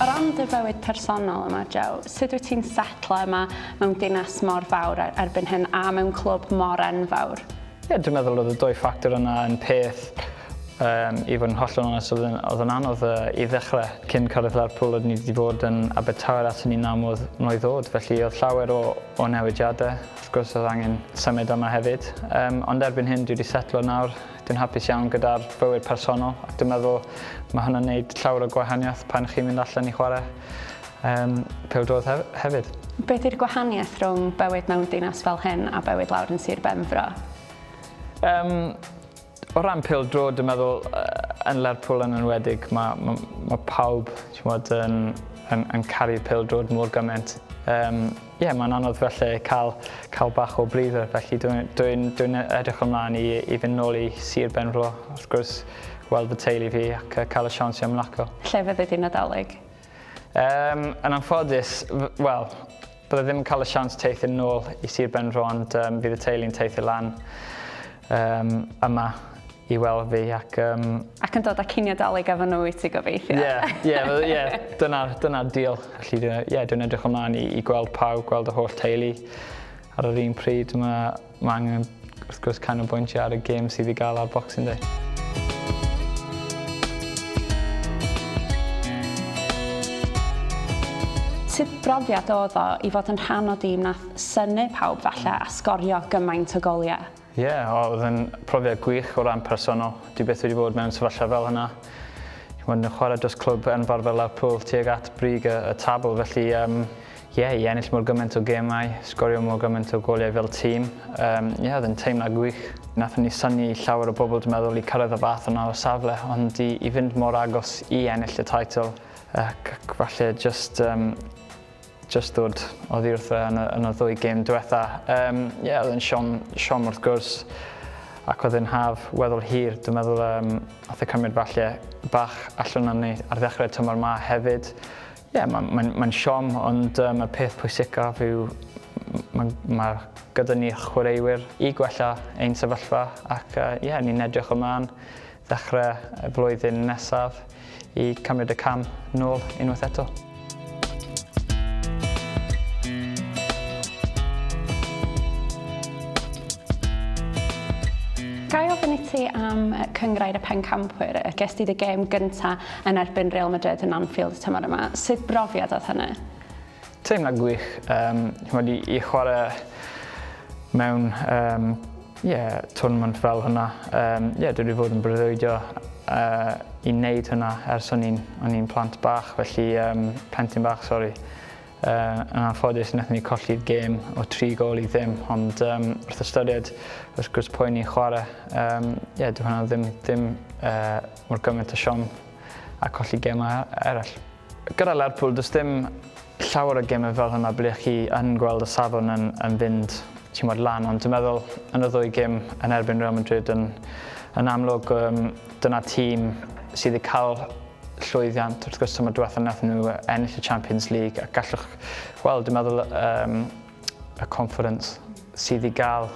O ran dy fywyd personol yma, Jo, sut wyt ti'n setlo yma mewn dinas mor fawr erbyn hyn a mewn clwb mor enfawr? Ie, dwi'n meddwl oedd y dwy ffactor yna yn peth um, i fod yn hollol onest, oedd yn, oedd yn anodd uh, i ddechrau. Cyn cyrraedd Lerpwl, oeddwn i wedi bod yn Abertawe at hynny namodd mlwydd ddod, felly oedd llawer o, o newidiadau. Wrth gwrs oedd angen symud yma hefyd, yym, ond erbyn hyn dwi wedi setlo nawr, dwi'n hapus iawn gyda'r bywyd personol ac dwi'n meddwl mae hwnna'n neud llawer o gwahaniaeth pan chi'n mynd allan i chwarae um, pêl-droed hef hefyd. Beth yw'r gwahaniaeth rhwng bywyd mewn dinas fel hyn a bywyd lawr yn Sir Benfro? Um, O ran pêl-droed dwi'n meddwl yn Lerpwl yn enwedig mae ma' ma' pawb t'mod yn yn yn caru pêl-droed mor gymaint. Yym ie mae'n anodd falle cael cael bach o breather felly dwi'n dwi'n dwi'n e- edrych ymlaen i i fynd nôl i Sir Benfro wrth gwrs weld fy teulu fi ac yy ca'l y siawns i ymlacio. Lle fyddi di Nadolig? Yym, yn anffodus, f- wel, bydda i ddim yn cael y siawns teithio nôl i Sir Benfro ond yym fydd y teulu'n teithio lan yym yma i weld fi ac yym... Ac yn dod â cinio Dolig efo nhw i ti gobeithio. Ie, ie, wel ie, dyna, dyna deal. Felly dwi, ie, dwi'n edrych ymlaen i i gweld pawb, gweld y holl teulu ar yr un pryd. Ma' Mae angen, wrth gwrs, canolbwyntio ar y gêm sydd i gael ar Boxing Day. Sut brofiad oedd o i fod yn rhan o dîm nath synu pawb falle a sgorio gymaint o goliau? Ie, yeah, oedd yn profiad gwych o ran personol. Dwi beth wedi bod mewn sefyllfa fel hynna. Mae'n chwarae dros clwb enfawr fel Lerpwl tuag at brig y, y tabl, felly um, Ie, i ennill mor gymaint o gemau, sgorio mor gymaint o goliau fel tîm, um, ie, oedd yn teimlad gwych. Nath ni syni i llawer o bobl dwi'n meddwl i cyrraedd y fath yna o safle, ond i, i fynd mor agos i ennill y title, ac, ac falle just, um, just dod oddi wrtho yn y, yn y ddwy gêm diwetha. Ie, um, yeah, oedd yn siom, siom wrth gwrs, ac oedd yn haf weddol hir. Dwi'n meddwl um, oedd y cymryd falle bach allan o'n ni ar ddechrau'r tymor ma hefyd. Ie, mae'n ma ma siom, ond um, y peth pwysicaf yw mae ma gyda ni chwaraewyr i gwella ein sefyllfa ac uh, yeah, ni'n edrych ymlaen ddechrau y flwyddyn nesaf i cymryd y cam nôl unwaith eto. Gael ofyn i ti am cyngrair y pencampwyr, ges di dy gêm gyntaf yn erbyn Real Madrid yn Anfield tymor yma. Sut brofiad oedd hynny? Teimlad gwych, um, chymod, i, i chwarae mewn um, yeah, tournament fel hwnna. Um, yeah, dwi wedi bod yn breuddwydio uh, i wneud hwnna ers o'n i'n o'n i'n plant bach, felly um, plentyn bach, sori. Uh, yn anffodus, wnaethon ni colli'r gêm o tri gol i ddim, ond um, wrth ystyried, wrth gwrs, pwy ni'n chwarae, um, yeah, dwi hwnna ddim, ddim uh, Mor gymaint o siom a colli gemau eraill. Gyda Lerpwl, does dim llawer o gemau fel hwnna ble chi yn gweld y safon yn, yn fynd timod, lan, ond dwi'n meddwl yn y ddwy gym yn erbyn Real Madrid yn, yn amlwg um, dyna tîm sydd wedi cael llwyddiant wrth gwrs tymor diwethaf nath nhw ennill y Champions League ac gallwch gweld dwi'n meddwl um, y conference sydd i gael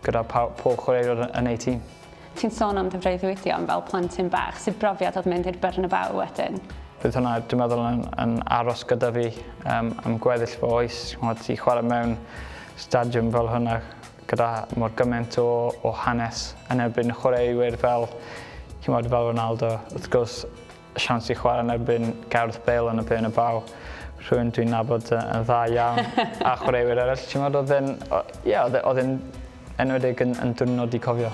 gyda pob chwaraewr yn eu tîm. Ti'n sôn am dy freuddwydio am fel plentyn bach, sut brofiad oedd mynd i'r Bernabeu wedyn? Bydd hwnna dwi'n meddwl yn, yn aros gyda fi um, am gweddill fy oes. Chmod, i chwarae mewn stadiwm fel hwnna gyda mor gymaint o, o hanes yn erbyn chwaraewyr fel, chmod, fel Ronaldo, wrth gwrs, siawns i chwarae yn erbyn Gareth Bale yn y Bernabeu, baw, rhywun dwi'n nabod yn dda iawn, a chwaraewyr eraill, ti'n meddwl, oedd e'n, ie, oedd e'n enwedig yn, yn dwrnod i cofio.